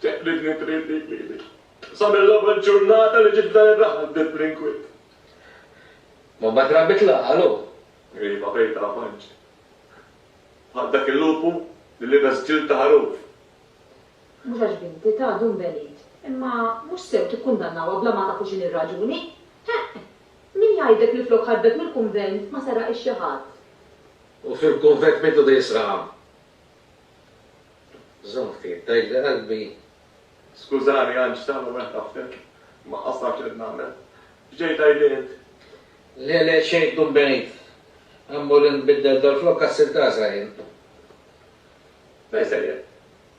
Teqbidni trid dik lili. Sa mill-ewwel ġurnata li ġiet f'dan ir-raħal bdiet bl-inkwiet. Ma mbagħad rabbit l-għaqal hu. Iva, bejta avanġ. Bħal dak il-lupu li libes ġild ta' ħaruf. Mhux għax binti ta' dun belid. Imma mhux sew tikkundannawha bla ma tafu x'inhi r-raġuni. Heqq! Min jgħidlek li flok ħarbet mill-kunvent ma seraqx xi ħadd? U fil-kunvent min tgħodu jisraqha? Żomm ftit, tgħidli qalbi. Skużani Anġ, x'tagħmel meta tafdilk? Ma qassax irid nagħmel. X'ġej tgħidli int? Le, le, xejn tkun b'għid. Ħa mmur inbiddel dal-flok għas-sirtaża jien. Fejn sejjer?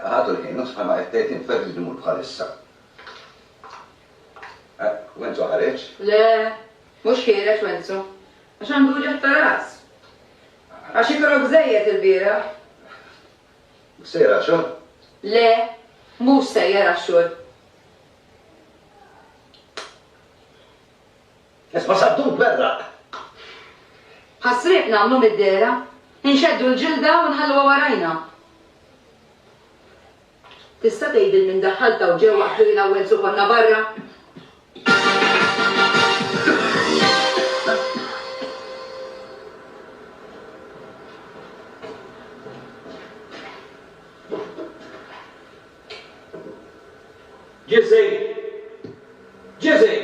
Ħadu l-ħin, mhux bħalma qed tgħid int, fejn trid immur bħalissa? Wenzu ħareġ? Le, mhux ħiereġ Wenzu, għax għandu wġigħ ta' ras. Għax ikrok żejjed ilbieraħ. Sejjer għax-xogħol? Le, mhux sejjer għax-xogħol. Isma' Saddun tberraq. Ħas-sriep nagħmlu mid-dehra? Inxeddu l-ġilda u nħalluha warajna? Tista' tgħidil min daħħalt hawn ġewwa għax li l-ewwel su konna barra? Ġiżej! Ġiżej!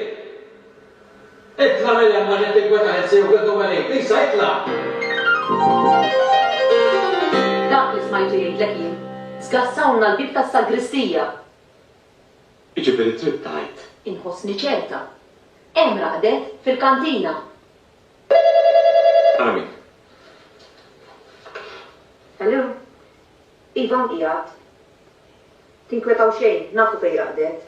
Itla' minn hemm għax qed tinkweta lil sewk il-ħdum għalik. Lisa, itla'! Dak li smajtu jgħidlek jien. Żgassawlna l-bieb tas-sagristija! Jiġifieri trid tgħid. Inħossni ċerta. Hemm raqdet, fil-kantina. Ara min. Hello? Ivan qiegħed. Tinkwetaw xejn, nafu fejn raqdet.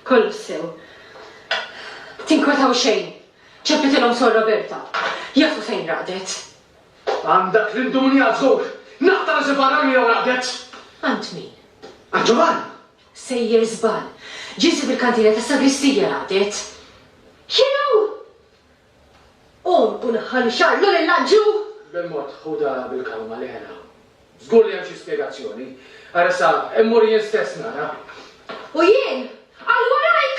Kollox sew. Tinkwetaw xejn. Ċempiltilhom Sor Roberta. Jafu fejn raqdet. Għand dak l-indumnijat żgur. Naqta' rasi barra li jew raqdet. Għand min? Għand Ġovann! Sejjer żball. Ġieli fil-kantina tas-sagristija raqdet. Jew! Qum u naħħal ix-xagħar minn il-lanġiu! Bil-mod, ħudha bil-kawma, le hena. Żgur li hemm xi spjegazzjoni. Ara issa, immur jien stess nara. U jien? Għal warajk!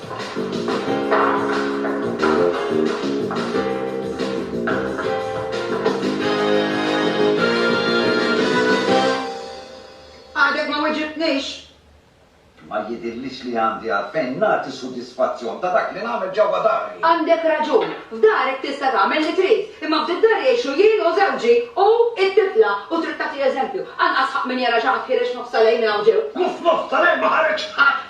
Għadek ma weġibtnix! Ma jidhirlix li għandi għalfejn nagħti sudisfazzjon ta' dak li nagħmel ġewwa dari. Għandek raġun. F'darek tista' tagħmel li trid. Imma f'did-dar jgħixu jien u żewġi u t-tifla u trid tagħti eżempju. Anqas ħadd min jara xi ħadd ħiereġ nofsa lejl minn hawn ġew. Nofs nofs tal-lejl ma ħareġ ħadd.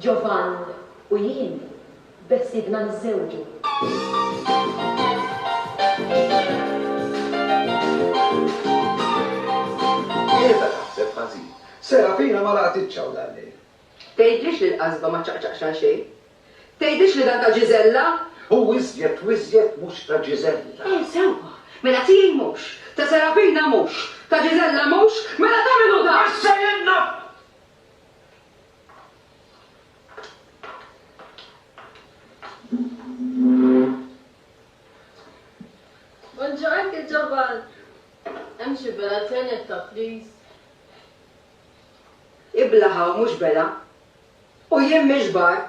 Giovan u jien bessibna niżżewġu. Qiegħda taħseb ħażin. Serafina ma laqgħtitx hawn dal-lejl. Tgħidlix li l-qasba ma ċċaqċaqx għal xejn? Tgħidlix li dan ta' Gisella? Hu iżjed u iżjed mhux ta' Gisella. Eh, sewwa! Mela tiegħi mhux, ta' Serafina mhux, ta' Gisella mhux, mela ta' min hu dan? Issa jien naf! Buongiorno, che giovane. Hemm xi bela ċenetta, please. Iblaha u mhux bela. U jien mhix bar.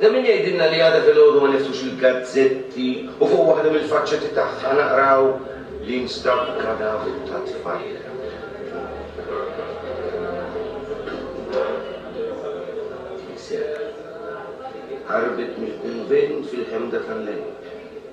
Da min jgħidilna li għada filgħodu ma niftux il-gazzetti u fuq waħda mill-faċċetti tagħha naqraw li nstab kadaver ta' tfajla. Tiseb. Ħarbet mill-kunvent fil-ħemda tal-lejl.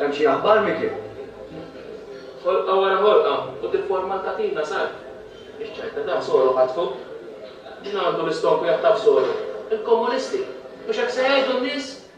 Hemm xi aħbar, Mickey? Ħolqa wara ħolqa u tifforma l-katina sar. Ix-ċajta ta' Soro ħatfu. Min għandu l-istonku jaħtaf Soro? Il-komunisti! Mhux hekk se jgħidu n-nies?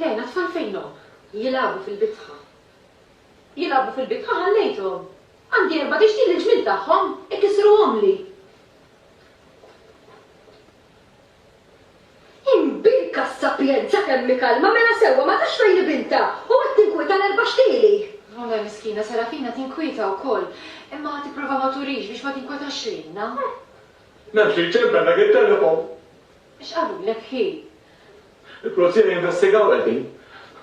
Lejn għat-tfal fejnhom? Jilagħbu fil-bitħa. Jilagħbu fil-bitħa ħallejthom. Għandi erba' tixti li l-ġmiel tagħhom ikissruhomli. Imbinka s-sapjenza kemm hi kalma, mela sewwa, ma tafx fejn hi bintha, u qed tinkwieta l-erba' xtieli! Nonna miskina, Serafina tinkwieta wkoll, imma ħa tipprova ma turix biex ma tinkwetax lilna. Naf xi jċempellek it-telefon! X'qalulek hi? Il-pulizija jinvestigaw qegħdin.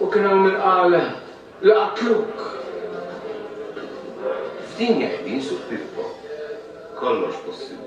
U kien hawn min qal li qatluk! F'din qegħdin suq Pippo, kollox possibbli.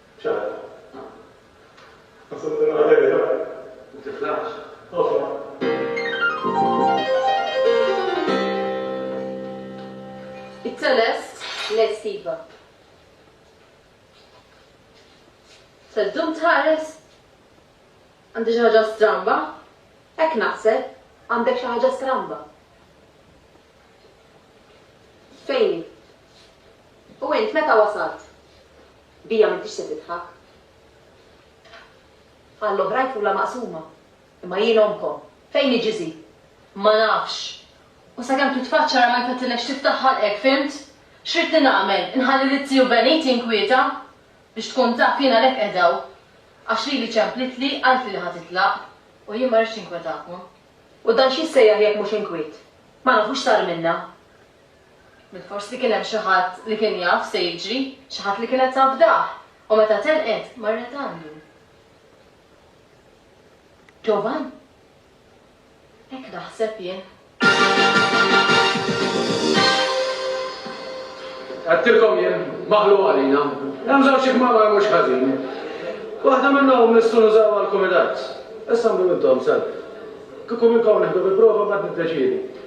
ċar. Nasab nilqa' lejl dak. U tiflaħx. It-teles lest iva. Se ddum tħares? Għandi xi ħaġa stramba? Hekk naħseb, għandek xi ħaġa stramba. Fejni? U int meta wasalt? Bija m'intix se tidħak. Għall-oħrajn tqulha maqsuma, imma jien ommkom. Fejn hi Ġiżi? Ma nafx. U sakemm titfaċċa ara ma jfettilekx tiftaħ ħalqek, fhimt? X'ridtni nagħmel, inħalli lil Ziju Benit jinkwieta? Biex tkun taf, jien għalhekk qiegħda hawn. Għax lili ċemplitli, qaltli li ħa titlaq. U jien ma rridx ninkwetakom. U dan x'jissejjaħ jekk mhux inkwiet? Ma nafu x'sar minnha. Forsi kien hemm xi ħadd li kien jaf x'se jiġri, xi ħadd li kienet tafdah, u meta telqet, marret għandu. Ġovan? Hekk naħseb jien. Għedtilkom jien, maħluq għalina. Hemm żewġ ikmamar mhux ħażin. Waħda minnhom nistgħu nużawha għall-kumitat. Issa mlu intom, sal. Kieku minnkom neħdu bi prova mbagħad niddeċiedu.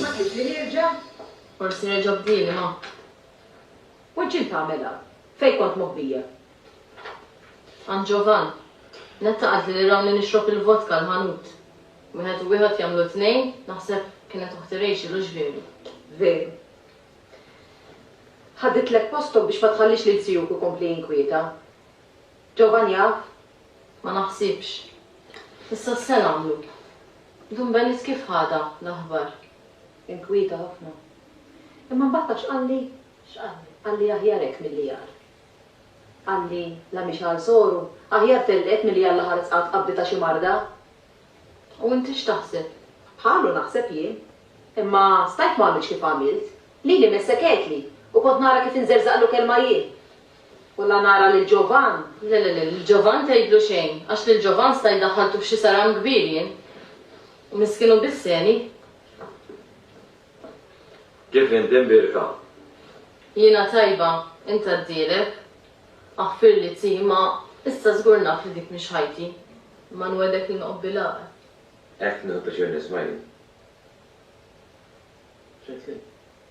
Ma tridx li nirġa'? Forsi reġgħu bdieli, ma. U ġġiel tagħmilha? Fejn kont moħbija? Għand Ġovann. Netta qaltli li rawni nixrob il-vodka l-ħanut. Wieħed u wieħed jagħmlu tnejn, naħseb kienet oħti Rachel hux veru? Veru. Ħaditlek posthom biex ma tħallix lil sijuk ikompli jinkwieta. Ġovan jaf? Ma naħsibx. Issa se nagħmlu? Dun Benet kif ħadha l-aħbar? Inkwieta ħafna. Imma mbagħad taf x'qalli? X'qalli? Qalli aħjar hekk milli agħar. Qalli, la mhix għal soru, aħjar tellqet milli għal l-aħħar tqgħad tqabdi ta' xi marda. U inti x'taħseb? Bħalu naħseb jien. Imma stajt ma għamiltx kif għamilt. Lili messek għedtli u kont nara kif inżerżaqlu kelma jien. U la nara lil Ġovann. Le, le, le, lil Ġovann tgħidlu xejn, għax lil Ġovann sta jdaħħaltu f'xi saram kbir jien. U miskin hu biss għeni. Kif inti mbierka? Jiena tajba, int għaddielek. Aħfirli Zzi, imma issa żgur naf li dik mhix ħajti. Imma nwegħdek li noqgħod bil-għaqal. Hekk, nieħu pjaċir nisma' jien. X'għedtli?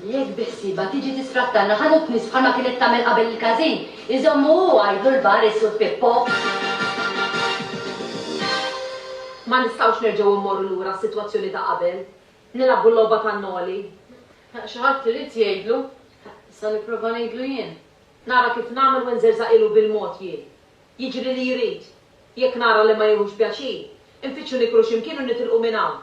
Jekk biħsiebha tiġi tistrattana ħa dub nies bħalma kienet tagħmel qabel il-każin, iżommu u għidlu l-bar is-Sur Pippo. Ma nistgħux nerġgħu immorru lura għas-sitwazzjoni ta' qabel, nilagħbu l-logħba tan-noli. Xi ħadd irid jgħidlu. Issa nipprova ngħidlu jien. Nara kif nagħmel u nżerżaqilu bil-mod jien. Jiġri li jrid. Jekk nara li ma jieħux pjaċir, infittxu niklu xi mkien u nitilqu minn hawn.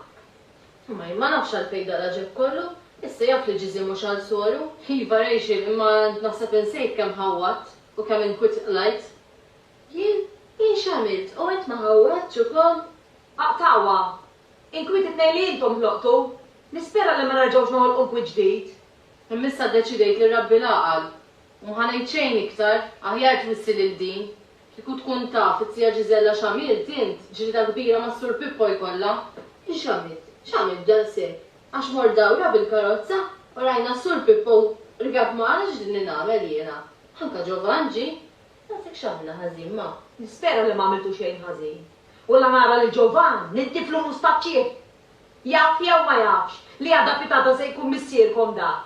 Mai, ma nafx għalfejn dan l-għaġeb kollu. Issa jaf li Ġiżi mhux għal soru. Iva Rachel, imma naħseb insejt kemm ħawwadt u kemm inkwitt qlajt. Jien? Jien x'għamilt? U int ma ħawwadtx ukoll? Aqtgħuha! Inkwiet it-tnejn li intom ħloqtu! Nispera li ma nerġgħux noħolqu nkwiet ġdid. Imma issa ddeċidejt li rrabbi l-għaqal. U m'ħa ngħid xejn iktar. Aħjar twissi lil din. Kieku tkun taf it-tija Ġiżella x'għamilt int, ġlieda kbira mas-Sur Pippo jkollha! I x'għamilt? X'għamilt daqshekk? Għax mort dawra bil-karozza u rajna s-Sur Pippo rkab magħna x'dilni nagħmel jiena? Anka Ġovann ġie. Daqshekk x'għamilna ħażin ma? Nispera li ma għamiltu xejn ħażin. U la nara lil Ġovann niddiflu mustaċċiet! Jaf jew ma jafx li għada pitgħada se jkun missierkom dak?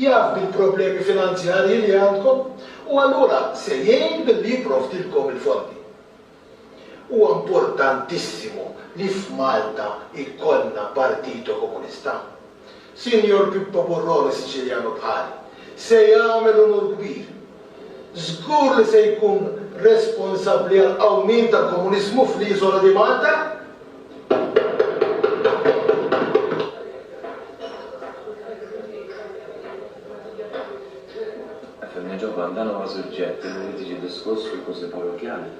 Jaf bil-problemi finanzjarji li għandkom u allura se jgħin billi jipprovdilkom il-fondi. Huwa importantissimu li f'Malta jkollna Partito Comunista. Sinjor Pippo Burrone Siciliano bħali, se jagħmel unur kbir Żgur li se jkun responsabbli għall-qawmien tal-komuniżmu fl-iżola di Malta. F'hemmhekk ġo Van dan huwa suġġett li tiġi diskuss fil-Kunsill Parrokkjali.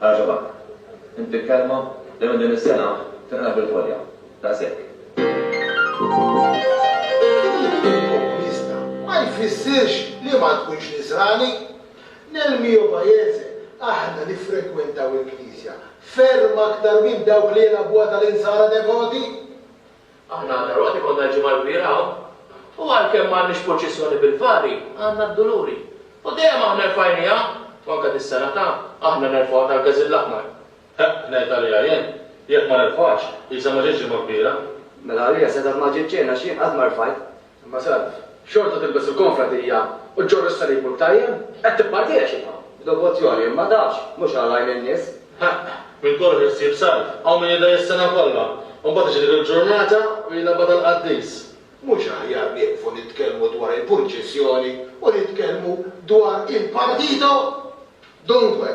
Għaġabak. Inti l-kelma li minn din is-sena tinqala' bil-ħolja. Daqshekk. Komunista ma jfissirx li ma tkunx Nisrani. Nel mio paese aħna niffrekwentaw il-knisja ferm aktar minn dawk li jilagħbuha tal-Insara devoti. Aħna għandna l-għoti, konna l-Ġimgħa l-Kbira hawn, u għalkemm m'għandniex purċissjoni bil-fari, għandna d-Duluri. U dejjem aħna rfajnieha, u anke dis-sena ta' aħna nerfgħuha tal-Gażill Aħmar. Ħa, ngħid għaliha jien, jekk ma nerfgħuhiex, qisha ma ġietx Ġimgħa Kbira. Mela għaliha setgħet ma ġietx xejn għax jien qatt ma rfgħit. Imma salv. Xorta tilbes il-konfra dija u ġġorr is-salib u l-btajjem? Qed tippartija xi tagħmel? B'devozzjoni, imma tafx, mhux għal għajn in-nies. Ħaqq! Minn kollox li ssib salv. Hawn min jidgħi s-sena kollha, u mbagħad tiġi dik il-ġurnata u jilgħabha tal-qaddis. Mhux aħjar nieqfu nitkellmu dwar il-purċissjoni u nitkellmu dwar il-partito? Dunque.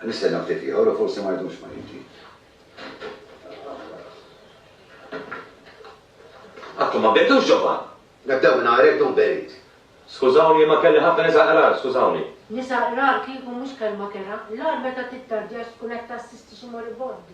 Nistenna ftit ieħor u forsi ma jdumx ma jiġi. Għadkom ma bdejtux ġobha! Nibdew minn għajr hekk dum berid. Skużawni imma kelli ħafna nisa qrar, skużawni. Nisa qrar kieku mhux kelma kerha, l-agħar meta tittardjax tkun qed tassisti xi moribond.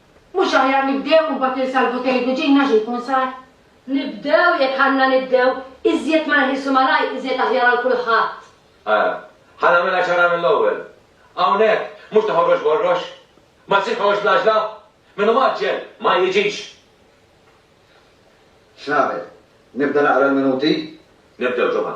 Mhux aħjar nibdew u mbagħad ninsalvu tgħidu ġinna x'ikun sar? Nibdew, jekk għandna nibdew, iżjed ma neħilsu malajr iżjed aħjar għal kulħadd. Ara, ħa nagħmilha ċara mill-ewwel. Hawnhekk, mhux ta' ħorrox b'ħorrox. Ma jsirx ħorrox bl-għaġla. Min hu mgħaġġel, ma jiġix. X'nagħmel? Nibda naqra l-minuti? Nibdew, Ġumgħa.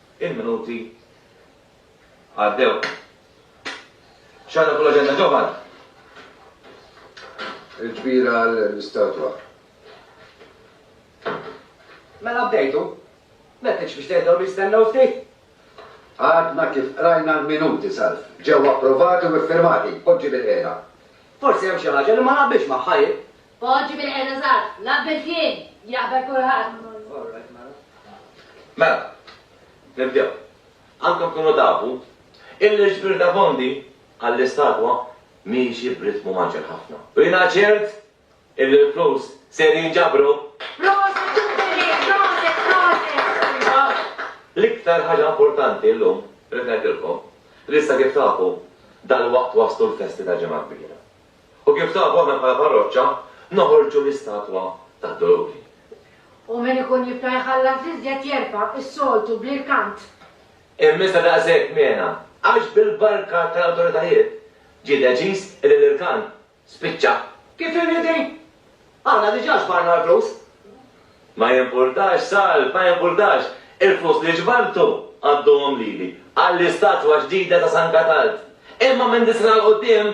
Il-minuti għaddew. X'għandna fuq l-aġenda Johan? Il-ġbira għall-istatwa. Mela bdejtu? M'għedtx biex tgħidhom jistennew ftit? Għadna kif qrajna l-minuti salf. Ġew approvati u iffirmati. Poġġi bil-qiegħda. Forsi hemm xi ħaġa li ma naqbilx magħha jien. Poġġi bil-qegħda żgħar, l-aqbel kien, jaqbel kulħadd. Alright mela. Mela, nibdew. Għandkom tkunu tafu illi l-ġbir ta' fondi għall-istatwa miexi b'ritmu maġġel ħafna. U jiena ċert illi l-flus ser jinġabru. Proset Jubilee, proset, proset! L-iktar ħaġa importanti llum, rrid ngħidilkom, li issa kif tafu dal-waqt waslu l-festi tal-Ġimgħa Kbira. U kif tafu aħna bħala parroċċa noħorġu l-istatwa tad-doluri. U min ikun jibqa' jħallas iżjed jerfa' s-soltu bl-irkant. Imma iżda daqshekk mena, għax bil-barka tal-awtoritajiet ġie deċiż illi l-irkant spiċċa. Kif irid hi! Aħna diġà ġbarna l-flus. Ma jimpurtax, Sal, ma jimpurtax, il-flus li ġbartu għadduhom lili għall-istatwa ġdida ta' San Katald. Imma minn dis-sena 'l quddiem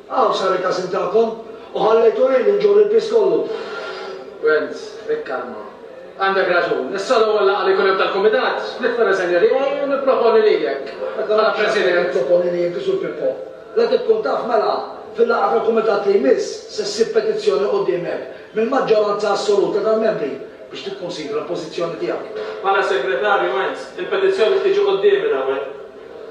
Hawn sar il-każin tagħkom u ħallejtu lili nġorr il-piż kollu. Wenz, ikkalma. Għandek raġun. Issa l-ewwel laqgħa li jkun hemm tal-kumitat, nitfa' riżenja tiegħi u nipproponi lilek bħala President. Nipproponi li inti, Sur Pippo, la tkun taf mela fil-laqgħa tal-kumitat li jmiss se ssib petizzjoni quddiemek mill-maġġoranza assoluta tal-membri biex tikkunsidra l-pożizzjoni tiegħek. Bħala Segretarju, Wenz, il-petizzjoni btiġi quddiemi l-ewwel.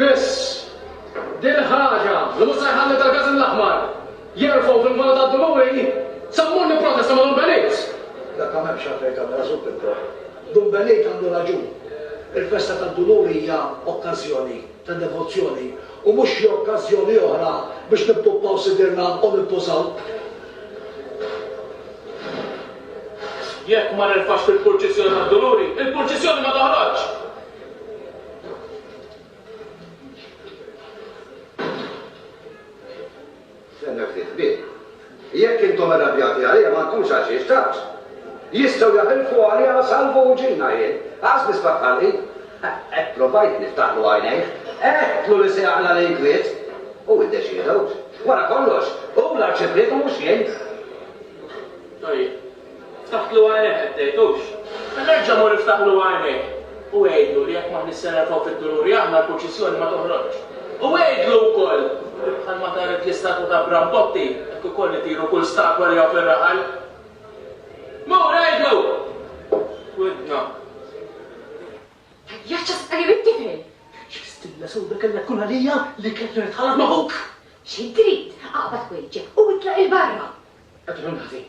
Biss, din ħaġa li mhux se jħalli Dalgazin l-Aħmar jerfgħu fil-Vona tad-Duluri żammuni b'protesta ma' Dun Benit! Dakka m'hemmx għalfejn tagħmel għażul pippor. Dun Benit għandu raġun. Il-festa tad-Duluri hija okkażjoni ta' devozzjoni u mhux xi okkażjoni oħra biex nippuppaw sidirna u nintużaw. Jekk ma nerfax fil-purċissjoni tad-Duluri, il-purċissjoni ma toħroġx! Stenna ftit, bih. Jekk intom irrabjati għalija m'għandkomx għal xiex tgħaġġ. Jistgħu jaħilfu għalija u salvu uġigħna jien. Qas nisbaħ ħalqi. Hekk provajt niftaħlu għajnejh. Għedtlu li se jaqla' l-inkwiet. Hu iddeċieda, hux. Wara kollox, hu l-Arċipriet u mhux jien. Tajjeb. Ftaħtlu għajnejk qed tgħid, hux? Mela erġa' mur iftaħlu għajnejk u għidlu li jekk m'aħniex se nerfgħu fid-duluri aħna l-purċissjoni ma toħroġx. U għidlu wkoll li bħalma taret l-istatwa ta' Brambotti hekk ukoll itiru kull statwa li hawn fir-raħal. Mur għidlu! Widna. Ejja ċċa saqajja mit-tifel! X'bistilla sewda kellha tkun għalija li kelli nitħallat ma' ħuk! Xi trid? Aqbad wejġek u itlaq 'il barra! Qed iħollni ħażin.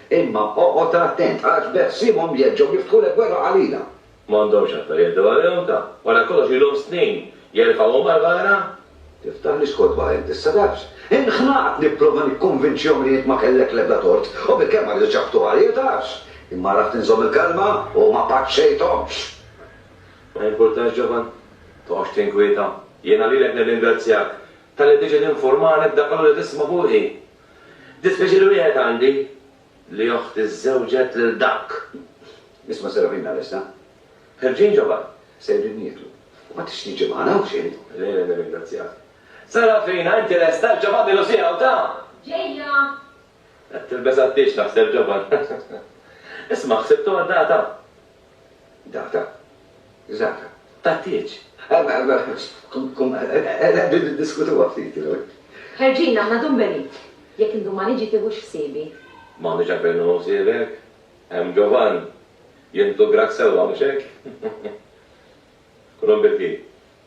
Imma oqgħod attent, għax b'ħsiemhom jerġgħu jiftħu l-gwerra għalina. M'għandhomx aktar jgħeddu għalihom, ta. Wara kollox ilhom snin jerfgħuhom għall-ghara. Tiftaħlix kotba int issa, tafx? Inħnaqt nipprova nikkonvinċihom li int ma kellek l-ebda tort, u bilkemm ma ridux jaħbtu għalija, tafx? Imma għaraft inżomm il-kalma u ma paċċejthomx. Ma jimpurtax, ġovan. Toqgħodx tinkwieta. Jiena lilek nirringrazzjak talli tiġi tinfurmani b'dak kollu li tisma' fuqi. Dispjaċir wieħed għandi li oħti żżewġet lil dak. Isma' Serafina Lesta. Ħerġin ġo barra. Sejrin nieklu. Ma tridx tiġi magħna hawn xi int? Le, le, nirringrazzjak. Serafina, inti lesta? Ġo fadli Lucia u ta. Ġejja. Qed tilbes għat-tieġ naħseb ġo barra. Isma' ħsibtuha d-data? Dak ta' Zaka. Taħtieġ. Qegħdin niddiskutuha ftit, you know. Ħerġin aħna Dun Benit. Jekk indum ma niġi tiħux ħsiebi. M'għandux għalfejn nieħu ħsiebek. Hemm Ġovann. Jintegrak sewwa, mhux hekk? Kulhom bil-ħin.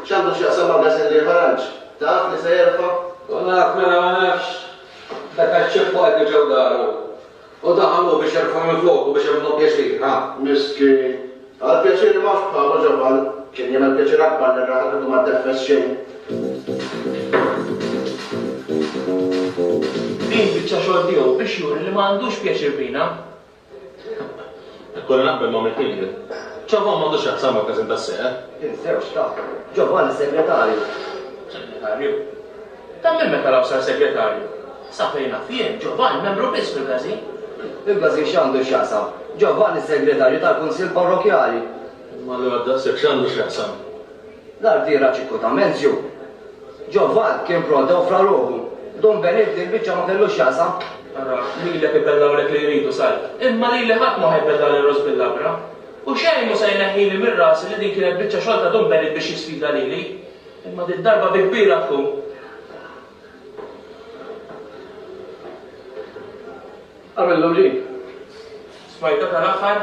X'għandu x'jaqsam ma' Gazelli Haranġ? Taf li se jerfa'? U naf, mela ma nafx? Dak għax ċipp u qegħdu ġew daru. U daħal hu biex jerfa' minn floku biex jagħmilhom pjaċir, ha? Miskin. Għall-pjaċir m'hawnx bħalu Ġofan. Kien jagħmel pjaċir akbar lir-raħal kieku ma ddeffes xejn. Din biċċa xogħol tiegħu biex juri li ma għandux pjaċir bina. Ikolli naqbel ma' Mick Higgler. Ġovann m'għandu x'jaqsam mal-każin tas-seqer. Iż-żewġ ta' Ġovann is-segretarju. Segretarju? Ta' min meta law sar segretarju? Sa fejn naf jien, Ġovann membru biss fil-każin. Il-każin x'għandu x'jaqsam? Ġovann is-segretarju tal-kunsill parrokkjali. Imma allura daqshekk x'għandu x'jaqsam? L-artiera Ċikkuta Menzju, Ġo Vall kien prode u fra ruħu. Dun Benè f'din il-biċċa ma kellu x'jaqsam. Ara, lilek ibellgħulek li jridu sajd, imma lili ħadd ma ħa jbellgħali ross bil-labra. U xejn mhu se jneħħili minn rasi li din kienet biċċa xogħol ta' Dun Benè biex jisfida lili. Imma did-darba bi kbira tkun. Għamillu li. Smajtha tal-aħħar?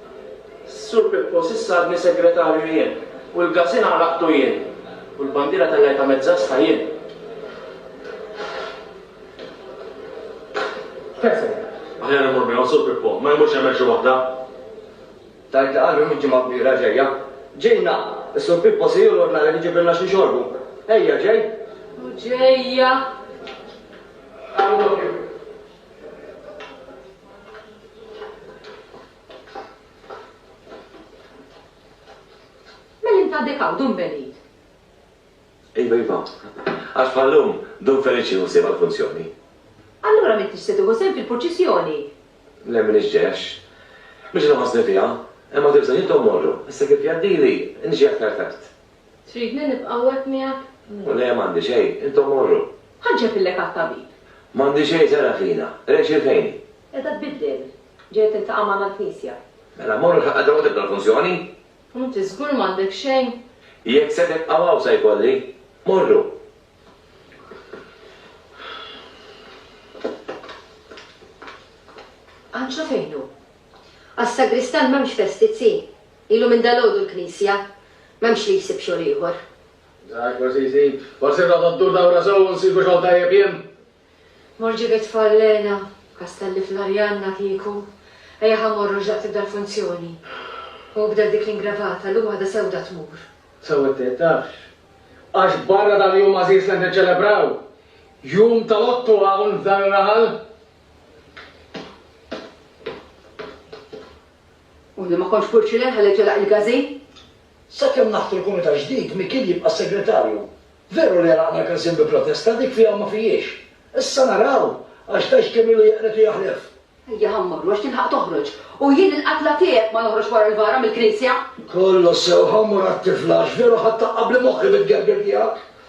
Sur Pippo s'issa għadni segretarju jien, u l-gazin għalaqtu jien, u l-bandiera tellajtha mezzasħa jien. Fejn se mmur? Aħjar immur miegħu, Sur Pippo, ma jmurx jagħmel xi waħda. Tgħid li qallu li l-ġimgħa kbira ġejja. Ġejna! Is-Sur Pippo se jolgħodna lejn iġibilna xi nxorbu. Ejja, ġej! U ġejja! Qalu doppju. Meli inta għadek hawn, Dun Belid? Iva, iva. Għax bħallum Dun Feliċi hu sejba l-funzjoni. Allura m'intix se tieħu sehem fil-purċissjoni? Le m'iniex ġex. M'iniex inħossni fiha. Imma tibża' jien tommorru. Issa kif jgħaddili, niġi aktar tard. Tridni nibqa' hawnhekk miegħek? Le, m'għandi xejn. Intom morru. Ħa nċeppillek għat-tabib. M'għandi xejn, Serafina. Rexx il-fejni. Qiegħda tbiddel. Ġejja tiltaqa' magħna l-knisja. Mela morru l-ħaqqa ġewwa tibda l-funzjoni. U inti żgur m'għandek xejn? Jekk se tibqgħu hawn se jkolli. Morru. Anġlu fejn hu? Għas-sagristan m'hemmx festi, Zzi. Ilu minn dalgħodu l-knisja. M'hemmx li jsib xogħol ieħor. Żgħar forsi jsib. Forsi rrota ddur dawra sew u nsibu xogħol tajjeb jien. Mor ġib it-tfal Lena. Kastelli fl-Arianna kieku. Ejja ħa mmorru x'daqt tibda l-funzjoni. Hu bda dik l-ingravata, llum waħda sewda tmur. Sew qed tgħid, tafx. Għax barra dal-jum għażiż li qed niċċelebraw. Jum tal-Ottu hawn f'dan ir-raħal. U li ma kontx purċilen ħalli telaq il-gażi? Sakemm naħtu l-Kumitat ġdid, Mikiel jibqa' s-Segretarju. Veru li għelaqna l-każin bi protesta, dik fiha u ma fijiex. Issa naraw, għax tgħix kemm ilu jeqred u jaħlef. Ejja ħa mmorru għax tilħaq toħroġ. U jien il-qatla tiegħek ma noħroġx wara l-vara mill-knisja! Kollox sew, ħa mmur għat-tifla għax veru ħadd taqqabli moħħi bit-gergir tiegħek.